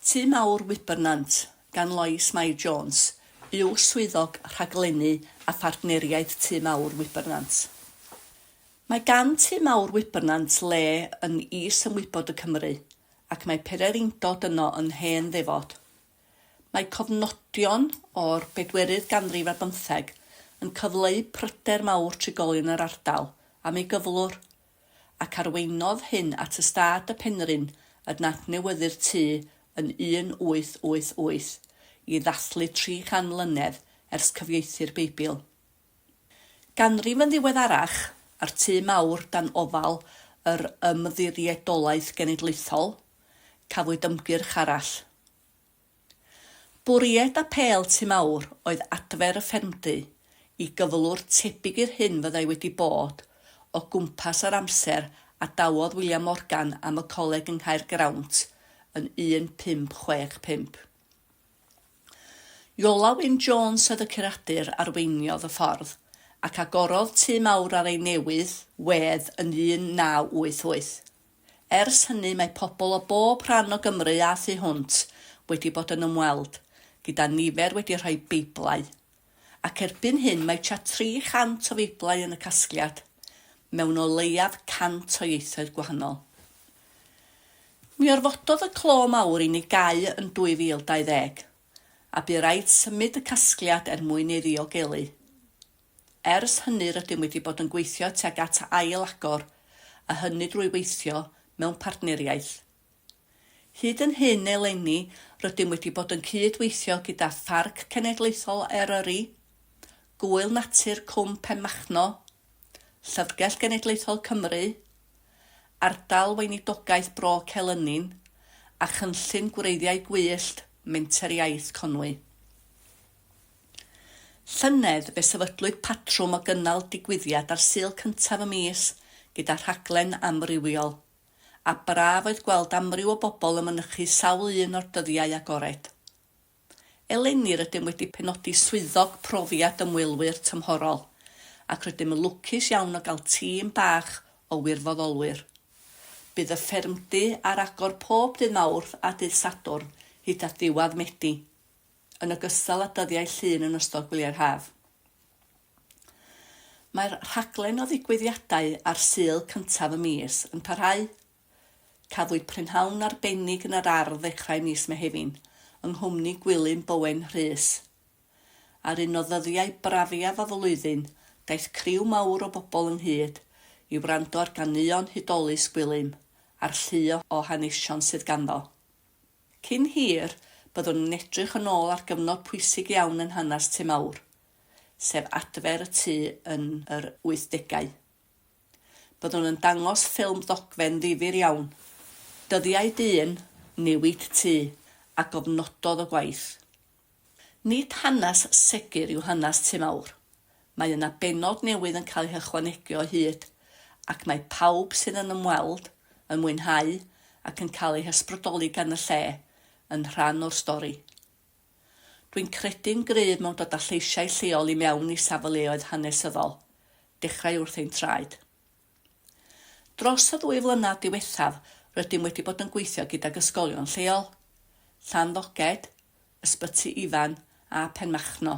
Tŷ Mawr Wybernant, gan Lois Mair Jones, yw Swyddog Rhaglennu a Phartneriaeth Tŷ Mawr Wybernant. Mae gan Tŷ Mawr Wybernant le yn is ymwybod y Cymry, ac mae pererindod yno yn hen ddefod. Mae cofnodion o'r bedwerydd ganrif ar bymtheg yn cyfleu pryder mawr trigolion yr ardal am ei gyflwr, ac arweinnodd hyn at ystâd y Penrhyn yn adnewyddu'r tŷ yn 1888 i ddathlu 300 mlynedd ers cyfieithu'r Beibl. Ganrif yn ddiweddarach, a'r tŷ mawr dan ofal yr Ymddiriedolaeth Genedlaethol, cafwyd ymgyrch arall. Bwriad Apêl Tŷ Mawr oedd adfer y ffermdy i gyflwr tebyg i'r hyn fyddai wedi bod o gwmpas yr amser a dawodd William Morgan am y coleg yng Nghaergrawnt yn 1565. Iola Wyn Jones oedd y curadur arweiniodd y ffordd, ac agorodd Tŷ Mawr ar ei newydd wedd yn 1988. Ers hynny mae pobl o bob rhan o Gymru a thu hwnt wedi bod yn ymweld, gyda nifer wedi rhoi Beiblau. Ac erbyn hyn mae tua 300 o Feiblau yn y casgliad, mewn o leiaf 100 o ieithoedd gwahanol. Mi orfododd y clo mawr i ni gau yn 2020, a bu raid symud y casgliad er mwyn ei ddiogelu. Ers hynny rydym wedi bod yn gweithio tuag at ail-agor, a hynny drwy weithio mewn partneriaeth. Hyd yn hyn eleni rydym wedi bod yn cyd-weithio gyda Pharc Cenedlaethol Eryri, Gŵyl Natur Cwm Penmachno, Llyfrgell Genedlaethol Cymru, Ardal Weinidogaeth Bro Celynin a Chynllun Gwreiddiau Gwyllt Menter Iaith Conwy. Llynedd, fe sefydlwyd patrwm o gynnal digwyddiad ar Sul cyntaf y mis gyda rhaglen amrywiol, a braf oedd gweld amryw o bobl yn mynychu sawl un o'r dyddiau agored. Eleni rydym wedi penodi Swyddog Profiad Ymwelwyr tymhorol, ac rydym yn lwcus iawn o gael tîm bach o wirfoddolwyr. Bydd y ffermdy ar agor pob dydd Mawrth a dydd Sadwrn hyd at ddiwedd Medi. yn ogystal â dyddiau Llun yn ystod gwyliau'r haf. Mae'r rhaglen o ddigwyddiadau ar Sul cyntaf y mis yn parhau. Cafwyd prynhawn arbennig yn yr ardd ddechrau mis Mehefin, yng nghwmni Gwilym Bowen Rhys. Ar un o ddyddiau brafiaf y flwyddyn, daeth criw mawr o bobl ynghyd i wrando ar ganeuon hudolus Gwilym a'r llu o hanesion sydd ganddo. Cyn hir, byddwn yn edrych yn ôl ar gyfnod pwysig iawn yn hanes Tŷ Mawr, sef adfer y tŷ yn yr wythdegau. Byddwn yn dangos ffilm ddogfen ddifyr iawn, dyddiau dyn, newid tŷ, a gofnododd y gwaith. Nid hanes segur yw hanes Tŷ Mawr. Mae yna bennod newydd yn cael ei hychwanegu o hyd, ac mae pawb sydd yn ymweld, yn mwynhau ac yn cael eu hysbrydoli gan y lle, yn rhan o'r stori. Dwi'n credu'n gryf mewn dod â lleisiau lleol i mewn i safleoedd hanesyddol, dechrau wrth ein traed. Dros y ddwy flynedd diwethaf rydym wedi bod yn gweithio gydag ysgolion lleol, Llanddoged, Ysbyty Ifan a Penmachno.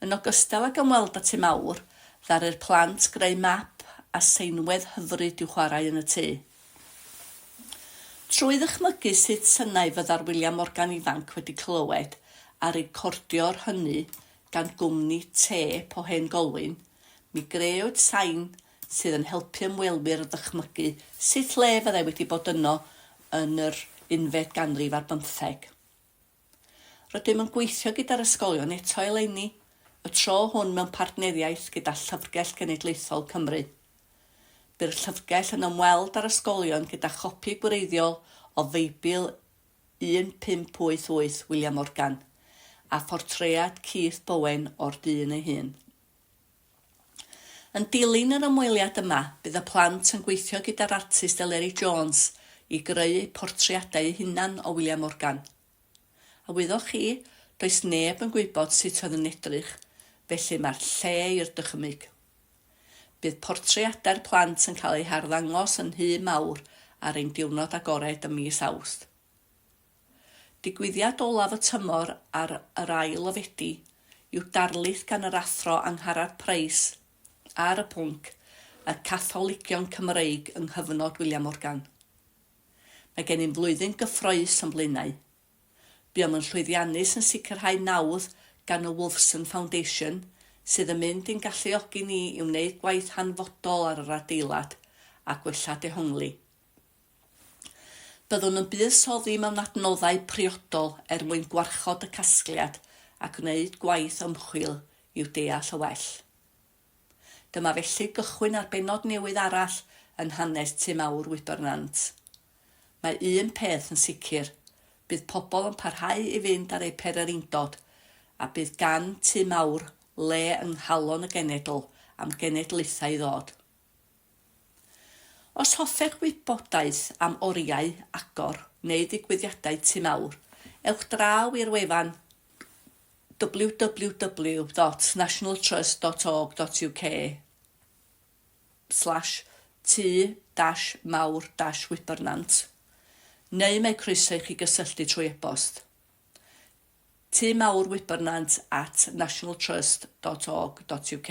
Yn ogystal ag ymweld â Tŷ Mawr, ddaru'r plant greu map a seinwedd hyfryd i'w chwarae yn y tŷ. Trwy ddychmygu sut synau fyddai'r wyliau Morgan ifanc wedi clywed a recordio'r hynny gan gwmni têp o hen Golwyn, Mi grëwyd sain sydd yn helpu ymwelwyr o ddychmygu sut le fyddai wedi bod yno yn yr unfed ganrif ar bymtheg. Rydym yn gweithio gyda'r ysgolion eto eleni, y tro hwn mewn partneriaeth gyda Llyfrgell Genedlaethol Cymru. Bu'r llyfrgell yn ymweld â'r ysgolion gyda chopi gwreiddiol o Feibl 1588 William Morgan, a phortread Keith Bowen o'r dyn ei hun. Yn dilyn yr ymweliad yma, bydd y plant yn gweithio gyda'r artist Eleri Jones i greu eu portreadau eu hunan o William Morgan. A wyddoch chi, does neb yn gwybod sut oedd yn edrych, felly mae'r lle i'r dychymyg. Bydd portreadau'r plant yn cael eu harddangos yn Nhŷ Mawr ar ein diwrnod agored ym mis Awst. Digwyddiad olaf y tymor ar yr ail o Fedi yw darlith gan yr Athro Angharad Price ar y pwnc 'Y Catholigion Cymreig yng Nghyfnod William Morgan'. Mae gennym flwyddyn gyffrous o'n blaenau. Buom yn llwyddiannus yn sicrhau nawdd gan y Wolfson Foundation, sydd yn mynd i'n galluogi ni i wneud gwaith hanfodol ar yr adeilad a gwella dehongli. Byddwn yn buddsoddi mewn adnoddau priodol er mwyn gwarchod y casgliad a gwneud gwaith ymchwil i'w deall yn well. Dyma felly gychwyn ar bennod newydd arall yn hanes Tŷ Mawr Wybr Nant. Mae un peth yn sicr, bydd pobl yn parhau i fynd ar eu perereindod a bydd gan Tŷ Mawr le yng nghalon y genedl am genedlaethau i ddod. Os hoffech wybodaeth am oriau agor neu ddigwyddiadau Tŷ Mawr, ewch draw i'r wefan www.nationaltrust.org.uk/tŷ-mawr-wibernant neu mae croeso i chi gysylltu trwy e-bost, tŷmawrwibernant at nationaltrust.org.uk.